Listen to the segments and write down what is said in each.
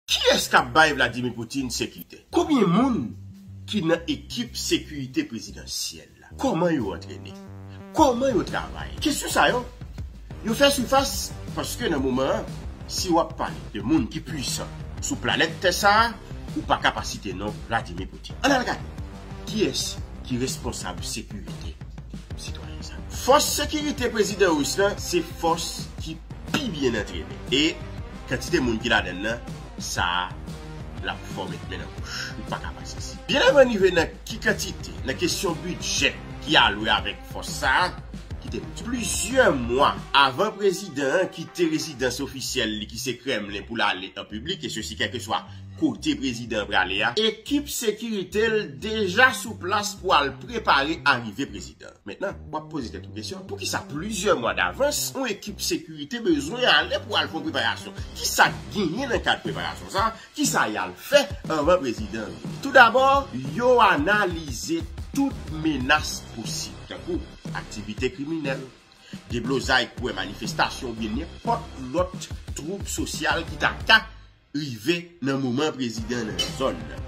Kiyès kap bay Vladimir Poutine sekite? Konbyen moun ki nan ekip sekirite prezidansyèl la? Kòman yo antrene? Kòman yo travay? Kesyon sa yo, yo fè sifas paske nan moman an, si w ap pale de moun ki pwisan sou planèt tè sa a, ou pa ka pa site non Vladimir Poutine. Ann al gade kiyès ki responsab sekirite sitwayen sa yo. Fòs sekirite prezidan ris lan se fòs ki pi byen antrene e Kantite moun ki ladann nan sa lap fò met men nan bouch ou paka pa sezi. Byen avan rive nan ki kantite nan kesyon bidjè ki alwe avèk fòs sa kite pou di. Plizyè mwa avan prezidan an kite rezidans ofisyèl li ki se Kremlin pou l ale an piblik e sesi kèlkeswa kote prezidan an prale a, ekip sekirite l deja sou plas pou al prepare arive prezidan. Mentnan, w ap poze tèt ou kesyon, poukisa plizyè mwa davans yon ekip sekirite bezwen ale pou al fè yon preparasyon? Kisa k genyen nan kad preparasyon sa a? Kisa y al fè anvan prezidan an vini? Toudabò, yo analize tout menas posib, tankou aktivite kriminèl, deblozay kouwè manifestasyon oubyen nenpòt lòt twoub sosyal ki ta ka rive nan moman prezidan nan zòn nan.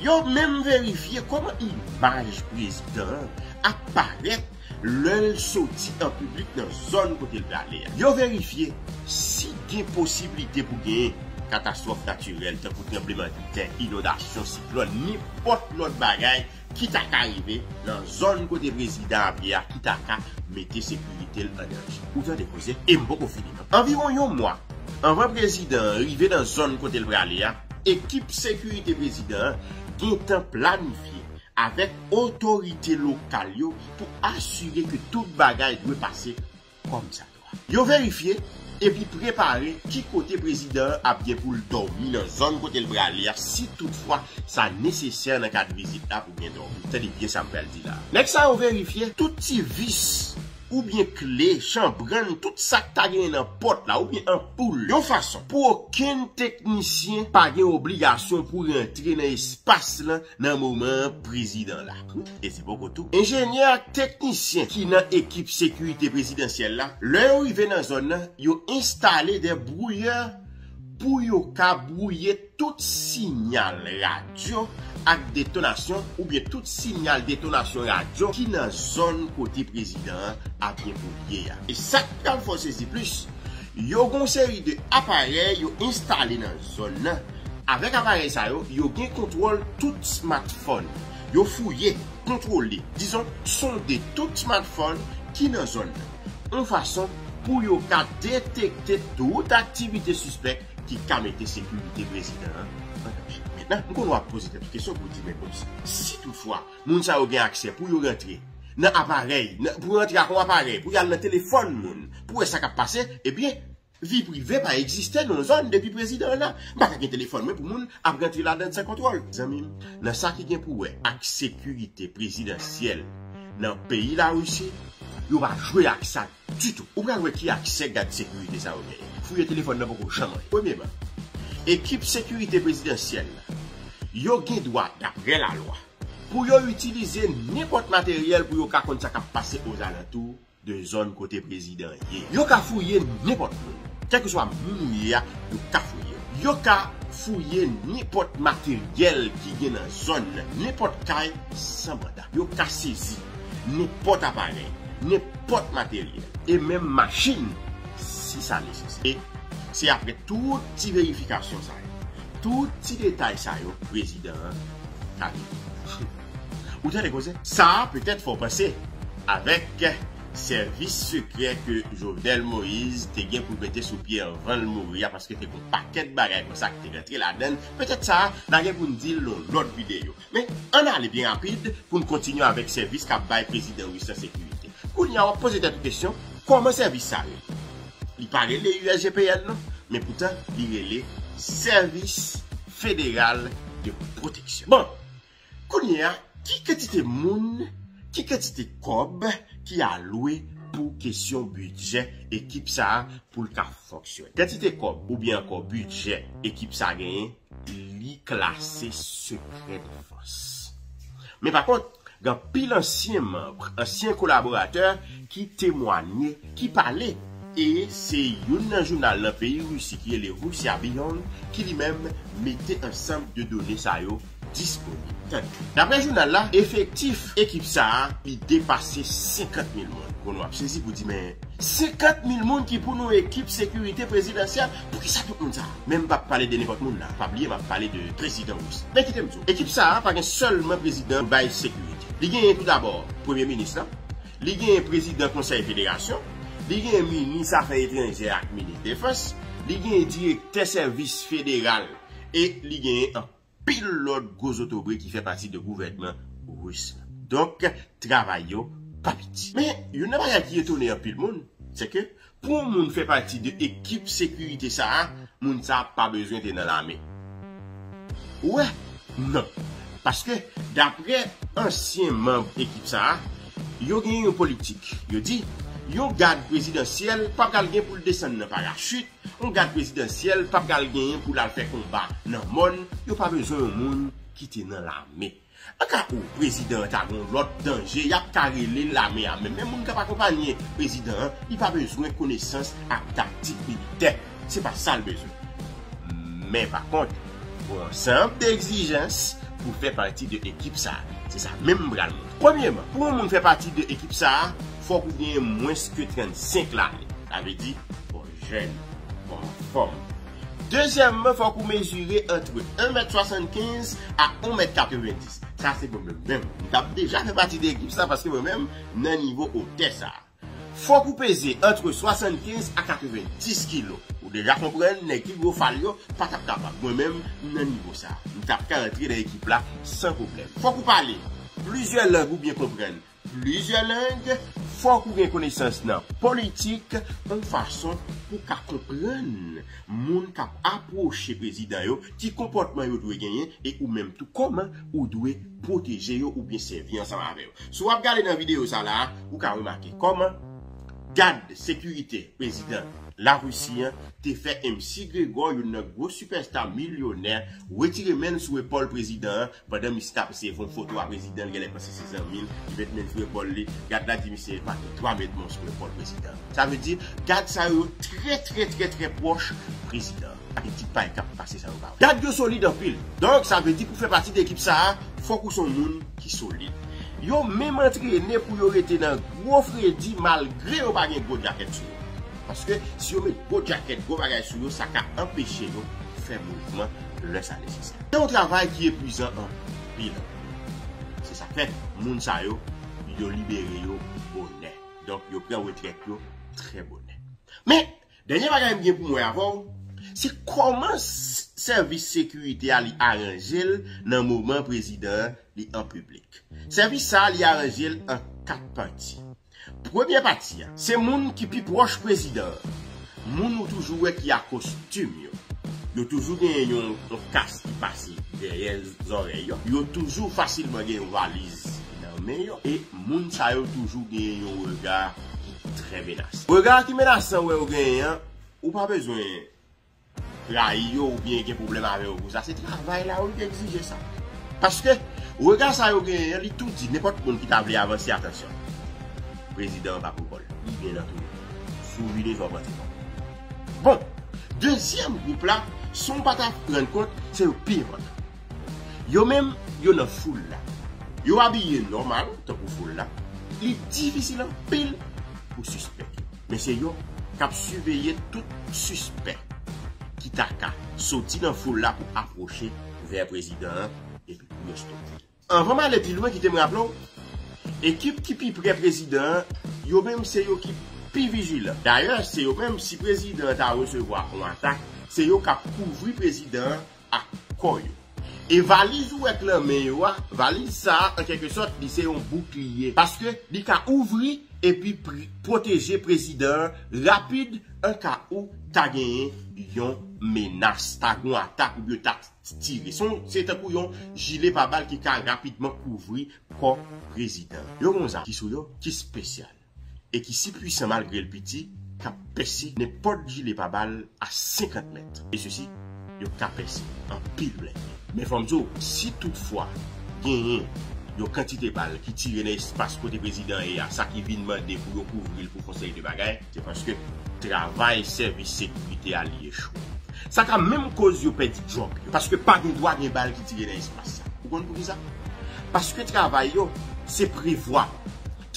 Yo menm verifye kòman imaj prezidan an ap parèt lè l soti an piblik nan zòn kote l prale a. Yo verifye si gen posiblite pou gen katastwòf natirèl tankou tranblemanntè, inondasyon, siklòn, nenpòt lòt bagay Ki ta ka rive nan zòn kote prezidan ap ye a ki ta ka mete sekirite l an danje? Ou tande koze e m poko fini non. Anviwon yon mwa anvan prezidan an rive nan zòn kote l prale a, ekip sekirite prezidan an gentan planifye avèk otorite lokal yo pou asire ke tout bagay dwe pase kòmsadwa. Yo verifye epi prepare ki kote prezidan an ap gen pou l dòmi nan zòn kote l prale a si tout fwa sa nesesè nan kad vizit la pou gen dòmi. Tande byen sa m pral di la a. Nèg sa yo verifye tout ti vis oubyen kle, chanbrann, tout sa k ta genyen nan pòt la oubyen anpoul yon fason pou okenn teknisyen pa gen obligasyon pou rantre nan espas lan nan moman prezidan la e se poko tou. Enjenyè ak teknisyen ki nan ekip sekirite prezidansyèl la, lè yo rive nan zòn nan, yo enstale dè brouyè pou yo ka brouye tout sinyal radyo ak detonasyon oubyen tout sinyal detonasyon radyo ki nan zòn kote prezidan an ap evolye a. E sa k pral fè w sezi plis, Yo gen yon seri de aparèy yo enstale nan zòn nan. Avèk aparèy sa yo, yo gen kontwòl tout smartphone. Yo fouye, kontwole, dizon sonde tout smartphone ki nan zòn nan, yon fason pou yo ka detekte tout aktivite sispèk ki ka mete sekirite prezidan an an danje. Mentnan, m konnen w ap poze tèt ou kesyon pou w di men bon, si tout fwa, Moun sa yo gen aksè pou yo rantre nan aparèy, pou yo rantre ak yon aparèy, pou yo al nan telefòn moun pou wè sa k ap pase, ebyen vi prive pa egziste nan yon zòn depi prezidan an la. M pa ka gen telefòn mwen pou moun ap rantre ladann san kontwòl. Zanmi m, nan sa ki gen pou wè ak sekirite prezidansyèl nan peyi Larisi, yo pa jwe ak sa. Ditou. Ou pral wè ki aksè gad sekirite sa yo genyen. Fouye telefòn nan poko janm anyen. Premyeman, ekip sekirite prezidansyèl la, yo gen dwa, daprè lalwa, pou yo itilize nenpòt materyèl pou yo ka konn sa k ap pase ozalantou de zòn kote prezidan an ye. Yo ka fouye nenpòt moun. Kèlkeswa moun ou ye a, yo ka fouye ou. Yo ka fouye nenpòt materyèl ki gen nan zòn nan, nenpòt kay, san manda. Yo ka sezi nenpòt aparèy, nenpòt materyèl e menm machin si sa nesesè. E se apre tout ti verifikasyon sa yo, tout ti detay sa yo prezidan an ka rive. Ou tande koze? Sa petèt fè w panse, avèk sèvis sekrè ke Jovenel Moïse te gen pou l mete sou pye anvan l mouri a, paske te gen yon pakèt bagay konsa ki te rantre ladan l, petèt sa a, n a gen pou n di l nan yon lòt videyo. Men, ann ale byen rapid pou n kontinye avèk sèvis k ap bay prezidan ris la sekirite. Kounye a, w ap poze tèt ou kesyon, kòman sèvis sa a rele? Li pa rele USGPN non, men poutan li rele Sèvis Federal de Pwoteksyon. Bon, kounye a, ki kantite moun, ki kantite kòb ki alwe pou kesyon bidjè ekip sa a pou l ka fonksyone? Kantite kòb oubyen ankò bidjè ekip sa a genyen? li klase sekrè defans. Men pa kont, gen anpil ansyen manb, ansyen kolaboratè ki temwanye, ki pale. E se youn nan jounal nan peyi Risi ki rele Russia Beyond ki li menm mete ansanm de done sa yo disponib. Tande. Daprè jounal la, efektif ekip sa a, li depase 50 mil moun. Bon nou ap sezi pou di men, 50 mil moun ki pou nou ekip sekirite prezidansyèl? Poukisa tout moun sa? Men m pap pale de nenpòt moun la, pa bliye map pale de prezidan Roussi. Men kite m di w, ekip sa a pa gen sèlman prezidan pou bay sekirite. Li genyen tou dabò premye minis la, li genyen prezidan konsèy federasyon, li genyen minis afè etranjè ak minis defans, li genyen direktè sèvis federal e li genyen anpil. pil lòt gwo zotobre ki fè pati de gouvènman Ris la. Donk, travay yo pa piti. Men, youn nan bagay ki etone anpil moun, se ke pou yon moun fè pati de ekip sekirite sa a, moun sa a pa bezwen te nan lame. Ou wè? Non. Paske, dapre ansyen manb ekip sa a, yo gen yon politik. Yo di, yon gad prezidansyèl pa pral gen pou l desann nan parachit, On gad prezidansyèl pa pral genyen pou l al fè konba nan mòn, yo pa bezwen yon moun ki te nan lame. Anka ou prezidan an ta gen yon lòt danje y ap ka rele lame a menm, men moun k ap akonpanye prezidan an li pa bezwen konesans ak taktik militè, se pa sa l bezwen. Men pa kont, pou ansanm de egzijans pou fè pati de ekip sa a, se sa menm m pral montre. Premyeman, pou yon moun fè pati de ekip sa a, Fòk ou genyen mwens ke 35 lane. Sa vle di, fò w jèn, fò w anfòm. Dezyèmman, fòk ou mezire antre 1 mèt 75 a 1 mèt 90. Sa se pou mwen menm. M tap deja fè pati de ekip sa paske mwen menm nan nivo otè sa. Fòk ou peze antre 75 a 90 kilo. Ou deja konprann nèg ki gwo fal yo pa tap kapab. Mwen menm, m nan nivo sa. M tap ka antre nan ekip la san pwoblèm. Fòk ou pale plizyè lang ou byen konprann. Plizyè lang, fòk ou gen konesans nan politik on fason pou w ka konprann moun k ap apwoche prezidan yo, ki konpòtman yo dwe genyen e ou menm tou kòman ou dwe pwoteje yo oubyen sèvi ansanm avè yo. Si w ap gade nan videyo sa la a, ou ka remake kòman gad sekirite prezidan Larisi an te fè MC Gregor, youn nan gwo sipèsta milyonè, wetire men l sou epòl prezidan an Pandan Mista ap eseye von foto a prezidan li genlè panse se zanmi l ki met men sou epòl li, gad la di misye epa gen 3 mèt mons sou epòl prezidan. Sa vle di gad sa yo yo trè trè trè trè pwòch prezidan ak ekip pa l kap pase sa yo pa wè. Gad yo solid anpil. Donk sa vle di pou fè pati de ekip sa a fòk ou se yon moun ki solid. Yo menm antrene pou yo rete nan gwo fredi malgre yo pa gen gwo djakèt sou yo. Paske si yo met gwo djakèt, gwo bagay sou yo sa ka anpeche yo fè mouvman. lè sa nesesè. Se yon travay ki epwizan anpil. Se sa k fè moun sa yo, yo libere yo bonè. Donk yo pran retrèt yo trè bonè. Men, dènye bagay m gen pou m wè avè w, se kòman sèvis sekirite a li aranje l nan moman prezidan an li an piblik. Sèvis sa a li aranje l an 4 pati. Premye pati a, se moun ki pi pwòch prezidan an. Moun ou toujou wè ki a kostim yo. Yo toujou genyen yon kas ki pase dèyè zòrèy yo. Yo toujou fasilman gen yon valiz nan men yo. E moun sa yo toujou genyen yon rega ki trè menasan. Rega ki menasan wè yo genyen an, ou pa bezwen. rayi yo oubyen gen pwoblèm avè yo pou sa se travay la wi ki egzije sa paske rega sa yo genyen an li tou di nenpòt moun ki ta vle avanse atansyon prezidan an pa pou kòl li byen antoure sou vide fè w pran ti kòb bon dezyèm gwoup la san w pa ta rann kont se yo ki pi enpòtan yo menm yo nan foul la yo abiye nòmal tankou foul la li difisil anpil pou w sispèk yo. Men se yo k ap siveye tout sispèk ki ta ka soti nan foul la pou apwoche vè prezidan an epi pou yo stope l. Anvan m ale pi lwen kite m raple w, ekip ki pi prè prezidan an yo menm se yo ki pi vijilan. Dayè se yo menm si prezidan an ta resevwa yon atak se yo k ap kouvri prezidan an ak kò yo. E valiz ou wè k nan men yo a, valiz sa a an kèlke sòt li se yon boukliye paske li ka ouvri epi pwoteje prezidan an rapid an ka ou ta genyen yon menas, ta gon atak oubyen yo ta tire. Son se tankou yon jile pa bal ki ka rapidman kouvri kò prezidan. Yo gon zam ki sou yo ki spesyal. e ki si pwisan malgre l piti k ap pèse nenpòt jile pabal a 50 mèt e sesi yo ka pèse anpil blende. Men fò m di w si tout fwa genyen yon kantite bal ki tire nan espas kote prezidan an ye a sa ki vin mande pou yo kouvri l pou fon seri de bagay, se paske travay sèvis sekirite a li echwe. Sa ka menm koz yo pèdi djòb yo paske pa gen dwa gen bal ki tire nan espas sa. Ou konn poukisa? Paske travay yo se prevwa.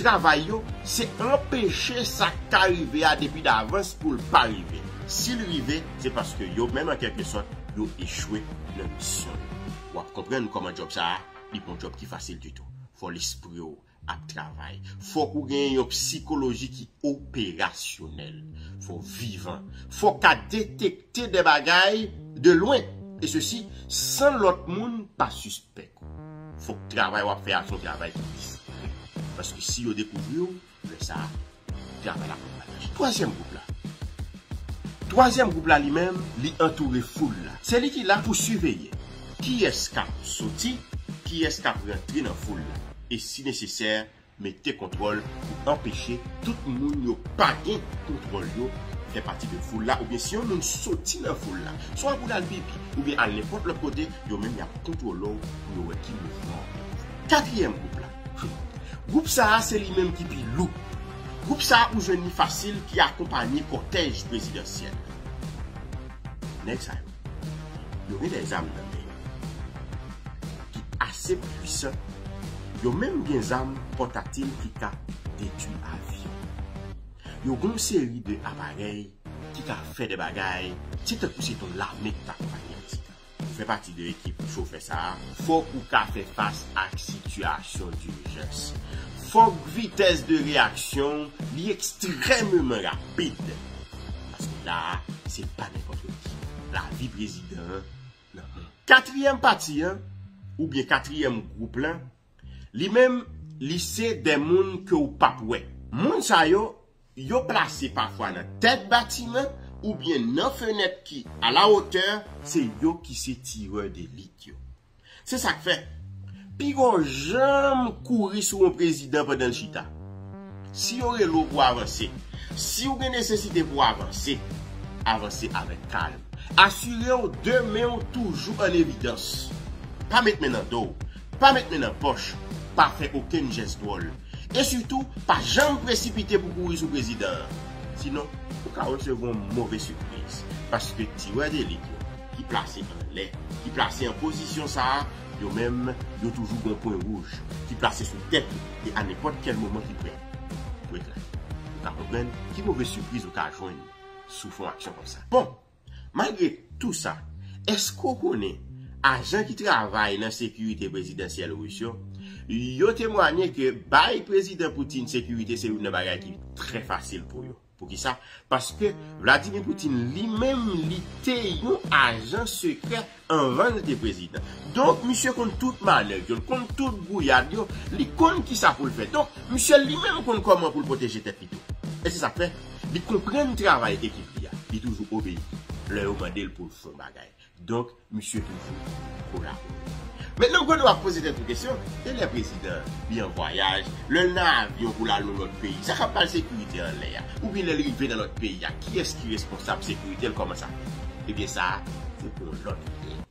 Travay yo, se anpeche sa k ka rive a depi davans pou l pa rive. Si l rive, se paske yo menm an kèlke sòt, yo echwe nan misyon yo. W ap konprann kòman djòb sa a, li pa yon djòb ki fasil ditou. Fò lespri w ap travay. Fòk ou genyen yon psikoloji ki operasyonèl. Fò w vivan. Fò w ka detekte de bagay de lwen, e sesi san lòt moun pa sispèk. Fok travay wap fè a son travay ki disipline. Paske si yo dekouvri w, lè sa a travay la pap bay anyen. Twazyèm gwoup la. Twazyèm gwoup la li menm, li antoure foul la. Se li ki la pou siveye kiyès kap soti, kiyès kap rantre nan foul la. E si nesesè, Mete kontwòl pou anpeche tout moun yo pa gen kontwòl yo fè pati de foul la oubyen si yon moun soti nan foul la swa pou l al pipi oubyen al nenpòt lòt kote yo menm y ap kontwole w pou yo wè ki mouvman w ap fè. Katriyèm gwoup la, Gwoup sa a se li menm ki pi lou. Gwoup sa a ou jwenn li fasil ki akonpanye kòtèj prezidansyèl la. Nèg sa yo. Yo genlè zam nan men yo ki ase pwisan, yo menm gen zam pòtatil ki ka detwi avyon. Yo gon seri de aparèy ki ka fè de bagay se tankou se ton lame ki ta konpanye misye. Pou fè pati de ekip chofè sa a, fòk ou ka fè fas ak sitiyasyon dirjans. Fòk vitès de reyaksyon w li ekstrèmeman rapid. Paske la a se pa nenpòt lòt ki. Lavi prezidan an nan men. Katriyèm pati an, oubyen katriyèm gwoup lan, li menm, li se de moun ke ou pap wè. Moun sa yo, yo plase pafwa nan tèt batiman oubyen nan fenèt ki a la wotè. Se yo ki se tirè delit yo. Se sak fè, pi gon janm kouri sou yon prezidan pandan l chita. Si yo rele w pou avanse, si w gen nesesite pou avanse, avanse avèk kalm. Asire w de men w toujou an evidans. Pa met men nan do w, pa met men nan pòch, pa fè okenn jès dwòl. E sitou, pa janm presipite pou kouri sou prezidan an. Sinon, ou ka resevwa yon move sipriz paske ti wè delit yo. ki plase anlè, ki plase an pozisyon sa a, yo menm, yo toujou gon pwen wouj, ki plase sou tèt ou, e a nenpòt kèl moman ki prè pou yo eklate. Ou ka konprann ki move sipriz ou ka jwenn sou fon aksyon konsa. Bon, malgre tou sa, èske ou konnen ajan ki travay nan sekirite prezidansyèl Ris yo, yo temwanye ke bay Prezidan Putin sekirite se youn nan bagay ki trè fasil pou yo. Poukisa? Paske Vladimir Poutine li menm li te yon ajan sekrè anvan li te prezidan. Donk misye konn tout manèv yo, li konn tout gouyad yo, li konn kisa pou l fè. Donk misye li menm konn kòman pou l pwoteje tèt li tou. E se sa k fè, li konprann travay ekip li a, li toujou obeyi lè yo mande l pou l fè yon bagay. Donk misye toujou kolabore. Mentnan Godot ap poze tèt ou kesyon, e lè prezidan li an vwayaj, lè l nan avyon pou l al yon lòt peyi, sa k ap bay sekirite an lè a? Oubyen lè l rive nan lòt peyi a, kiyès ki responsab sekirite l, kòman sa fèt? Ebyen sa a se pou yon lòt videyo.